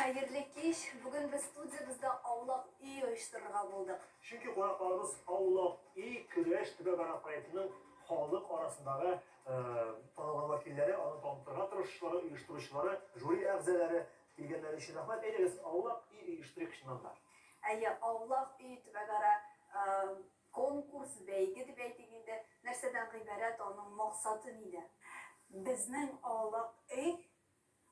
Хәерле кич! Бүген без студиябездә Аулак өй оештырырга булдык. Чөнки кунакларыбыз Аулак өй көрәш төбәгара проектының халык арасындагы танылган вәкилләре, аны танытырга тырышучылары, оештыручылары, жюри әгъзалары, Килгәннәр өчен рәхмәт. Әйдәгез, Аулак өй оештырыйк чыннан да. Әйе, Аулак өй төбәкара конкурс, бәйге дип әйтик инде. Нәрсәдән гыйбарәт, аның максаты нидә? Безнең Аулак өй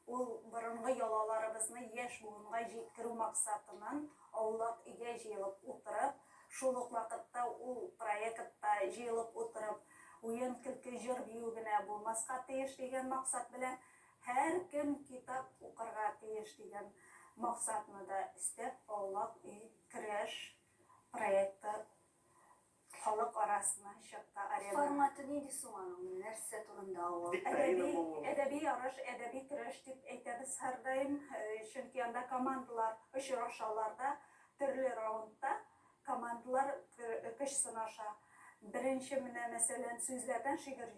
ул борынгы йолаларыбызны яшь буынга җиткерү максатыннан Аулак өйгә җыелып утырып, шул ук вакытта ул проектта җыелып утырып уен-көлке, җыр-бию генә булмаска тиеш дигән максат белән Һәркем китап укырга тиеш дигән максатны да өстәп, Аулак өй керәш проекты халык арасына чыкты. Арена. Форматы нинди соң аның? Нәрсә турында ул? Әдәби, әдәби ярыш, әдәби көрәш дип әйтәбез һәрдаим, чөнки анда командалар очрашалар да төрле раундта Командалар көч сынаша. Беренче менә, мәсәлән, сүзләрдән шигырь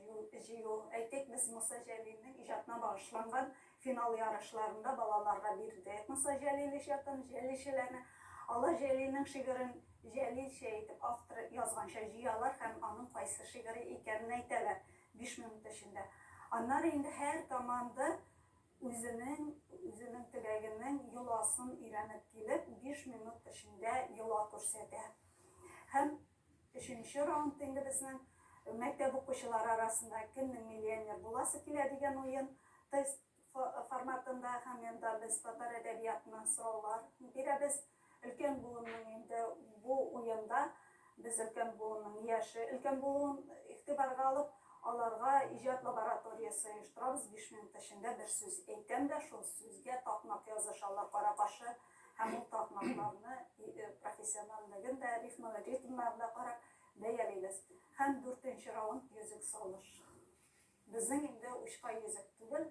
җыю. Әйтик, без Муса Җәлилнең иҗатына багышланган финал ярышларын да балаларга бирдек. Муса Җәлил иҗатын, Җәлилчеләрне. Алар Җәлилнең шигырен җәлилчә итеп, автор язганча җыялар һәм аның кайсы шигыре икәнен әйтәләр биш минут эчендә. Аннары инде һәр команда Үзенең, үзенең теләгенең йоласын өйрәнеп килеп, биш минут эчендә йола күрсәтә. Һәм өченче раунд инде безнең мәктәп укучылары арасында кемнең миллионер буласы килә дигән уен тест форматында һәм монда без татар әдәбиятыннан сораулар бирәбез. Ә Өлкән буынның инде бу уенда без өлкән буынның яше, өлкән булуын игътибарга алып, аларга иҗат лабораториясе оештырабыз, биш минут эчендә бер сүз әйтәм дә, шул сүзгә такмак язышалар кара-каршы, һәм ул такмакларны профессиональлеген дә, рифма, ритмнарын да карап бәялибез. Һәм дүртенче раунд йөзек салыш. Безнең инде учка йөзек түгел,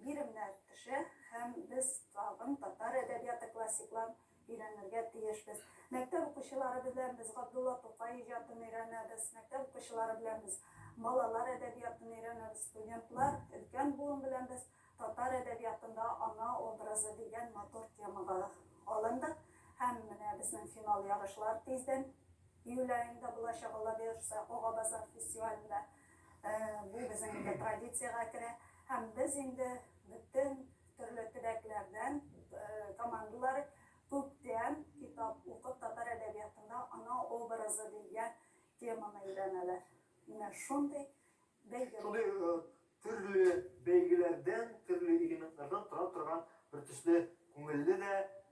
Биремнәр төшә һәм без тагын татар әдәбияты классикларын өйрәнергә тиешбез. Мәктәп укучылары белән без Габдулла Тукай иҗатын өйрәнәбез, мәктәп укучылары белән без балалар әдәбиятын өйрәнәбез, студентлар, өлкән буын белән без татар әдәбиятында ана образы дигән матур темага алындык. Һәм менә безнең финал ярышлар тиздән, июль аенда булачак, Алла боерса, Ага-Базар фестивалендә. Бу безнең инде традициягә керә. Һәм без инде бөтен төрле төбәкләрдән командалар күптән китап укып татар әдәбиятында ана образы дигән теманы өйрәнәләр. Менә шундый бәйге. Шундый төрле бәйгеләрдән, төрле элементлардан тора торган бертөсле Күңелле дә,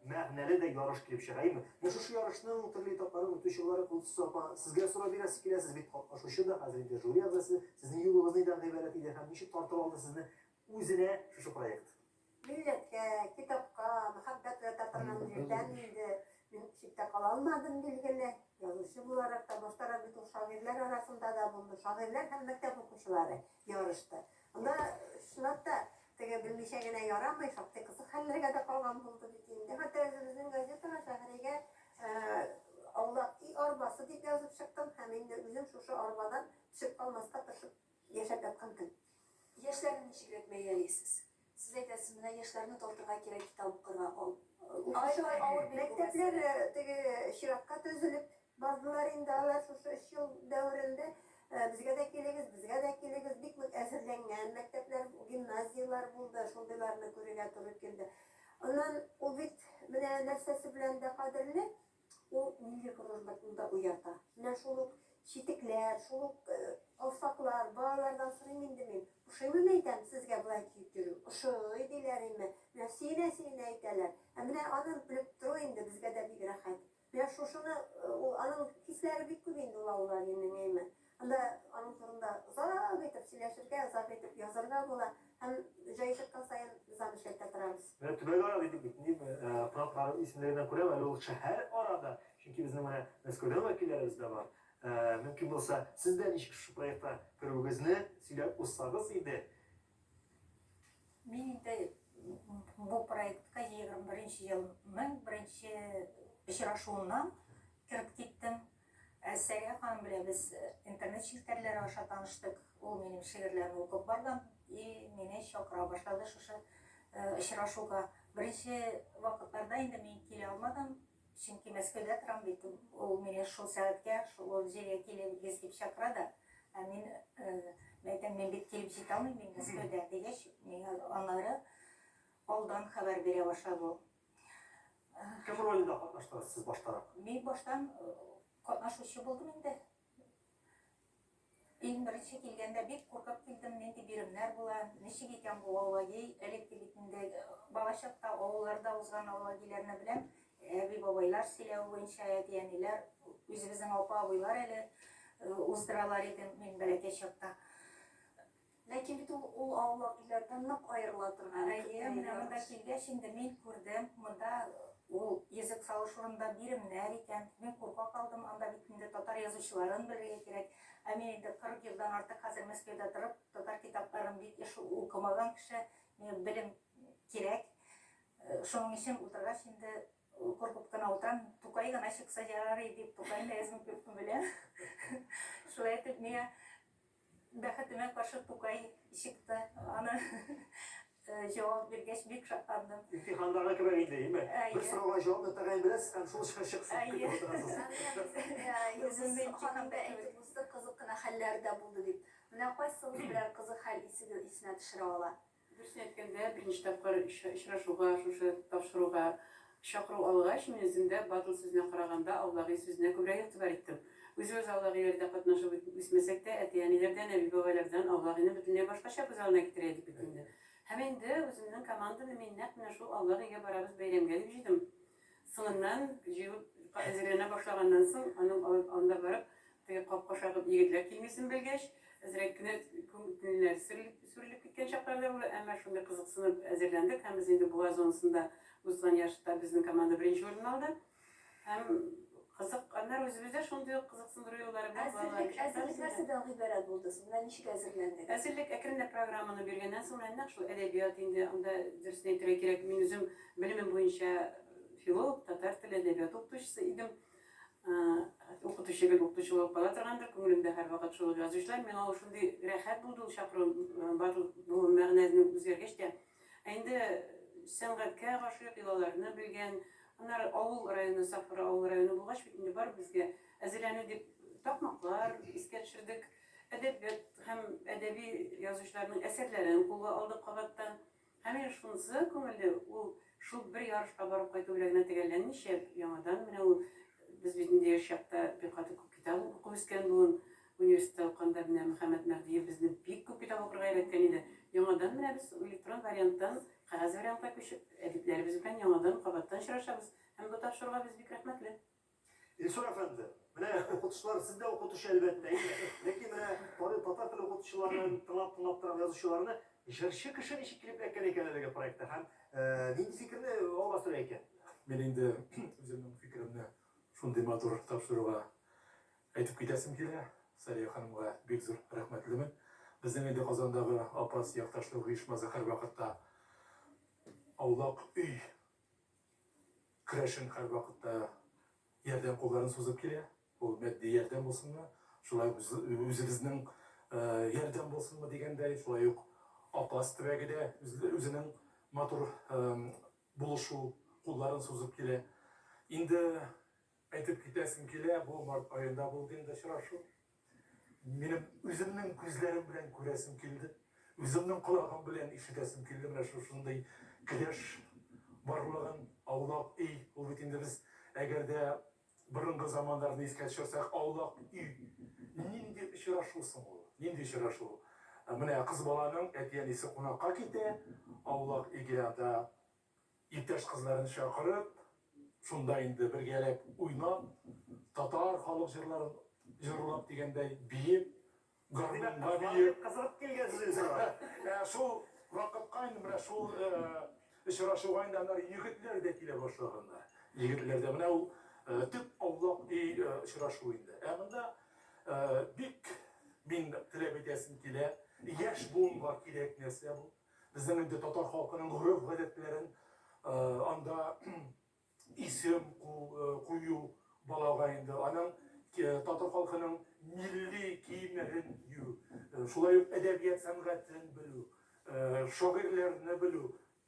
мәгънәле дә ярыш килеп чыга, әйеме? Менә шушы ярышның төрле этапларын үтүче буларак, Гөлсусыз апа, сезгә сорау бирәсе килә, сез бит катнашучы да, хәзер инде жюри әгъзасы, сезнең юлыгыз нидән гыйбарәт иде һәм ничек тартып алды сезне үзенә шушы проект? Милләткә, китапка мәхәббәт уята торган җирдән инде мин читтә кала алмадым, билгеле. Язучы буларак та, башта Рабит ул шагыйрьләр арасында да булды, шагыйрьләр һәм мәктәп укучылары ярышты. Анда, чынлап та, теге белмичә генә ярамый, шактый кызык хәлләргә дә калган булды бит инде. Хәтта үзебезнең газетага, Шәһригә аулак өй арбасы дип язып чыктым һәм инде үзем шушы арбадан төшеп калмаска тырышып яшәп яткан көн. Яшьләрне ничегрәк бәялисез? Сез әйтәсез, менә яшьләрне тартырга кирәк, китап укырга, укучылар авыр бит бу мәсьәлә. Мәктәпләр теге чиратка төзелеп, Бардылар инде алар шушы өч ел дәверендә, безгә дә килегез, безгә дә килегез, бик нык әзерләнгән мәктәпләр, гимназияләр булды, шундыйларны күрергә туры килде. Аннан ул бит менә нәрсәсе белән дә кадерле, ул милли горурлыкны да уята. Менә шул ук читекләр, шул ук калфаклар, балалардан сорыйм инде мин, ошыймыни әйтәм, сезгә болай киеп йөрү? Ошый, диләр име, менә сөенә-сөенә әйтәләр. Ә менә аны белеп тору инде безгә дә бик рәхәт. Менә шушыны ул, аның хисләре бик күп инде ул Аулалинең, әйме. Анда аның турында озак итеп сөйләшергә, озак итеп язарга була. Һәм җае чыккан саен без аны эшләтә торабыз. Менә төбәкара дидек бит, ни кунакларның исемлегеннән күрәм, әле ул шәһәр арада, чөнки безнең менә Мәскәүдән вәкилләребез дә бар. Мөмкин булса, сез дә ничек шушы проектка керүегезне сөйләп узсагыз иде. Мин инде бу проектка 21 елның беренче очрашуыннан кереп киттем. Ә Сәрия ханым белән без э, интернет челтәрләре аша таныштык. Ул минем шигырьләрне укып барган и мине чакыра башлады шушы э, очрашуга. Беренче вакытларда инде мин килә алмадым. Чөнки Мәскәүдә торам бит, ул мине шул сәгатькә, шул җиргә килегез дип чакыра да. Ә мин әйтәм, мин бит килеп җитә алмыйм, мин Мәскәүдә, дигәч, миңа аннары алдан хәбәр бирә башлады ул. Кем ролендә катнаштыгыз сез баштарак? Мин баштан катнашучы булдым инде. Иң беренче килгәндә бик куркып килдем, нинди биремнәр була, ничек икән бу аллаги, элекке бит инде э, балачакта авылларда узган аллагиләрне беләм, әби-бабайлар сөйләве буенча әти-әниләр, үзебезнең апа-абыйлар әле э, уздыралар иде мин бәләкәй чакта. Ләкин бит ул ул аулак өйләрдән нык аерыла торган. Әйе, менә монда килгәч инде мин күрдем, монда ул йөзек салыш урынында биремнәр икән. Мин курка калдым, анда бит инде татар язучыларын белергә кирәк. Ә мин инде 40 елдан артык хәзер Мәскәүдә торып, татар китапларын бик еш укымаган кеше, миңа белем кирәк. Шуның өчен утыргач инде куркып кына утырам. Тукай гына чыкса ярар иде дип, Тукайны әзме-күпме беләм. Шулай итеп, миңа Бәхетемә каршы Тукай чыкты. Аны җавап биргәч, бик шатландым. Имтихандагы кебек инде, име? Бер сорауга җавапны тәгаен беләсез һәм шул чыгыш чыксын дип көтеп утырасыз. Үземне имтиханда әйтеп уздык, кызык кына хәлләр дә булды, дип. Менә кайсыгыз берәр кызык хәл исенә төшерә ала? Дөресен әйткәндә, беренче тапкыр очрашуга, шушы тапшыруга чакыру алгач, мин үзем дә Батл сүзенә караганда Аллаги сүзенә күбрәк игътибар иттем. Үзебез Аллагиләрдә катнашып үсмәсәк тә, әти-әниләрдән, әби-бабайлардан Аллагины бөтенләй башкача күз алдына китерә идек бит инде. Һәм инде үземнең команданы мин нәкъ менә шул Аллагигә барабыз бәйрәмгә дип җыйдым. Соңыннан, җыелып әзерләнә башлаганнан соң, аның анда барып, Теге капка шагып егетләр килмисен белгәч, әзрәк кенә күңелләр сүрелеп киткән чаклар да булды, әмма шундый кызыксынып әзерләндек һәм без инде буа зонасында узган ярышта безнең команда беренче урынны алды. Һәм кызык, аннары үзебез дә шундый ук кызыксындыру юллары белән балаларны чакырабыз. Әзерлек, әзерлек нәрсә белән гыйбарәт булды соң? Менә ничек әзерләндегез? Әзерлек әкренләп программаны биргәннән соң менә нәкъ шул әдәбият инде, анда дөресен әйтергә кирәк, мин үзем белемем буенча филолог, татар теле, әдәбияты укытучысы идем. Укытучы гел укытучы булып кала торгандыр, күңелемдә һәрвакыт шул ук язучылар. Миңа ул шундый рәхәт булды, ул чакыру, бар бу мәгънәне үзгәргәч тә. Ә инде сәнгатькә гашыйк, йолаларны белгән, аннары авыл районы, Сафура авыл районы булгач бит инде бар безгә әзерләнү дип такмаклар искә төшердек, әдәбият һәм әдәби язучыларның әсәрләрен кулга алдык кабаттан. Һәм менә шунысы күңелле, ул шул бер ярышка барып кайту белән генә төгәлләнмичә, яңадан менә ул, без бит инде яшь чакта бик каты күп китап укып үскән буын, университетта укыганда менә Мөхәммәт Мәһдиев безне бик күп китап укырга өйрәткән иде. Яңадан менә без электрон варианттан кәгазь вариантка күчеп, әдипләребез белән яңадан, кабаттан очрашабыз. Һәм бу тапшыруга без бик рәхмәтле. Илсур әфәнде, менә укытучылар, сез дә укытучы, әлбәттә, әйе. Ләкин менә карыйм, татар теле укытучыларын тыңлап-тыңлап торам, язучыларны. Җырчы кеше ничек килеп эләккән икән әлеге проектка һәм нинди фикерне алга сөрә икән? Мин инде үземнең фикеремне шундый матур тапшыруга әйтеп китәсем килә. Сәрия ханымга бик зур рәхмәтлемен. Безнең инде Казандагы Апас якташлык оешмасы һәрвакытта аулак өй Керәшен һәрвакытта ярдәм кулларын сузып килә. Ул матди ярдәм булсынмы, шулай ук үзебезнең ярдәм булсынмы дигәндәй, шулай ук Апас төбәге дә үзенең матур булышу кулларын сузып килә. Инде әйтеп китәсем килә, бу март аенда булды инде очрашу. Минем үземнең күзләрем белән күрәсем килде, үземнең колагым белән ишетәсем килде менә шушындый келәш барлыгын, аулак өй, ул бит инде без әгәр дә борынгы заманнарны искә төшерсәк, аулак өй нинди очрашу соң ул? Нинди очрашу? Менә кыз баланың әти-әнисе кунакка китә, аулак өйгә анда Иптәш кызларын чакырып, шунда инде бергәләп уйнап, татар халык җырларын җырлап дигәндәй биеп, гармунга биеп. Кызыгып килгәнсез инде сиңа. Ә шул вакытка инде менә шул очрашуга инде аннары егетләр дә килә башлаганнар. Егетләр дә менә ул төп аулак и очрашу инде. Ә монда бик мин теләп әйтәсем килә, яшь буынга кирәк нәрсә бу. Безнең инде татар халкының гореф-гадәтләрен анда исем кую балага инде аның татар халкының милли киемнәрен кию, шулай ук әдәбият сәнгатен белү, шагыйрьләрне белү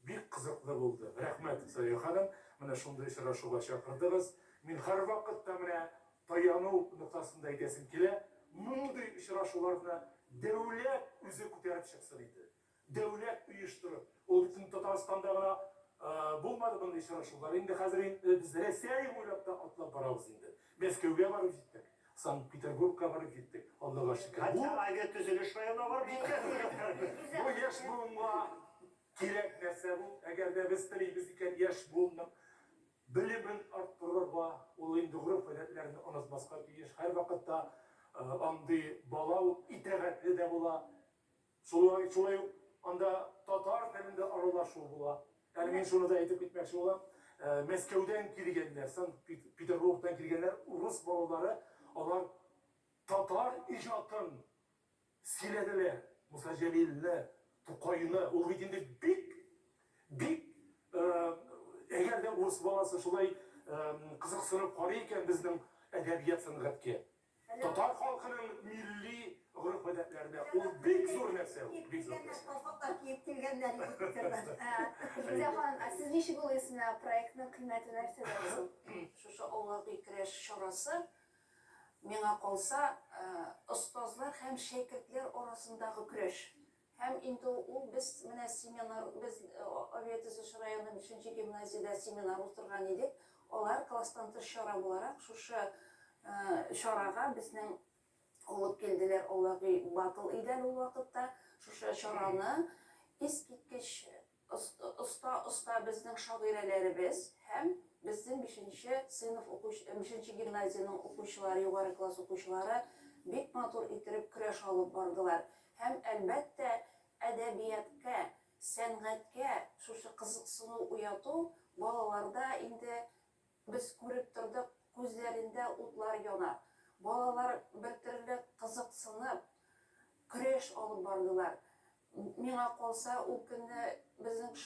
бик кызыклы булды. Рәхмәт, Сая ханым, менә шундый очрашуга чакырдыгыз. Мин һәрвакыт та менә таяну ноктасында әйтәсем килә, мондый очрашуларны дәүләт үзе күтәреп чыксын иде. Дәүләт оештырып, ул бит инде Татарстанда гына булмады мондый очрашулар, инде хәзер без Рәсәй буйлап та атлап барабыз инде. Мәскәүгә барып җиттек, Санкт-Петербургка барып җиттек, Аллага шөкер. Бу. Хәтта авиатөзелеш районына барып җиткән. Бу яшь буынга кирәк нәрсә бу. Әгәр дә без телибез икән яшь буынның Белемен арттырырга, ул инде гореф гадәтләрне онытмаска тиеш, һәрвакытта андый бала ул итәгатьле дә була, шулай шулай ук анда татар телендә аралашу була. Әле мин шуны да әйтеп китмәкче булам, Мәскәүдән килгәннәр, Санкт-Петербургтан килгәннәр урыс балалары, алар татар иҗатын Сөйләделәр, Муса Җәлилне, Тукайны, ул бит инде бик, бик, әгәр дә урыс баласы шулай кызыксынып карый икән безнең әдәбият-сәнгатькә, татар халкының милли гореф-гадәтләренә, ул бик зур нәрсә ул, бик зур нәрсә. Калфаклар киеп килгәннәр иде фикерләр. Фидия ханым, ә сез ничек уйлыйсыз, менә проектның кыйммәте нәрсәдә соң? Шушы авылга-көй керәш чарасы Миңа калса, остазлар һәм шәкертләр арасындагы көрәш һәм инде ул без менә семинар, без Авиатөзелеш районы бишенче гимназиядә семинар уздырган идек, алар класстан тыш чара буларак шушы чарага безнең алып килделәр Алаги Батл Идәл ул вакытта шушы чараны искиткеч Оста оста безнең шагыйрәләребез һәм безнең бишенче сыйныф укучы бишенче гимназиянең укучылары югары класс укучылары бик матур иттереп көрәш алып бардылар һәм әлбәттә әдәбияткә сәнгатькә шушы кызыксыну уяту балаларда инде Без күреп тордык, күзләрендә утлар яна. Балалар бертөрле кызыксынып, көрәш алып бардылар. Миңа калса, ул көнне безнең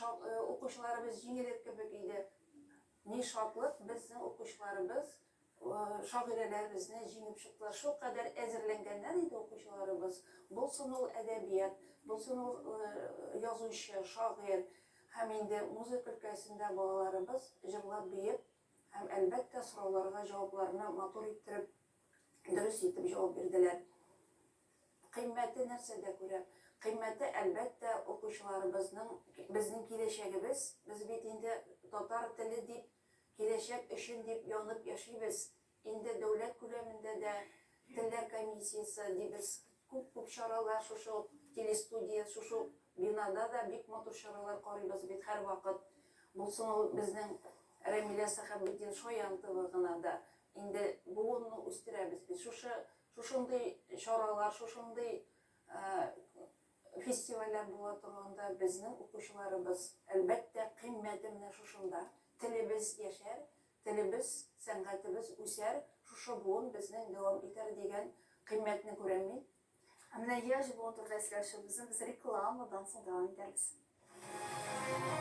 укучыларыбыз җиңелер кебек иде. Ни шатлык, безнең укучыларыбыз шагыйрәләребезне җиңеп чыктылар. Шулкадәр әзерләнгәннәр иде укучыларыбыз. Булсын ул әдәбият, булсын ул язучы, шагыйрь. Һәм инде музыка өлкәсендә балаларыбыз җырлап биеп һәм әлбәттә сорауларга җавапларны матур иттереп, дөрес итеп җавап бирделәр. Кыйммәте нәрсәдә күрә? Кыйммәте әлбәттә укучыларыбызның, безнең киләчәгебез, без бит инде татар теле дип, киләчәк өчен дип янып яшибез, Инде дәүләт күләмендә дә Телләр комиссиясе дибез, күп-күп чаралар шушы ук телестудия, шушы ук бинада да бик матур чаралар карыйбыз бит һәрвакыт. Булсын ул безнең Рәмилә Сәхәбетдин Шаянтова гына да. Инде буынны үстерәбез бит. Шушы, шушындый чаралар, шушындый фестивальләр була торганда безнең укучыларыбыз, әлбәттә, кыйммәте менә шушында. Телебез яшәр, Телебез, сәнгатебез үсәр, шушы буын безнең дәвам итәр дигән кыйммәтне күрәм мин. Ә менә яшь буын турында сөйләшүебезне без рекламадан соң дәвам итәрбез.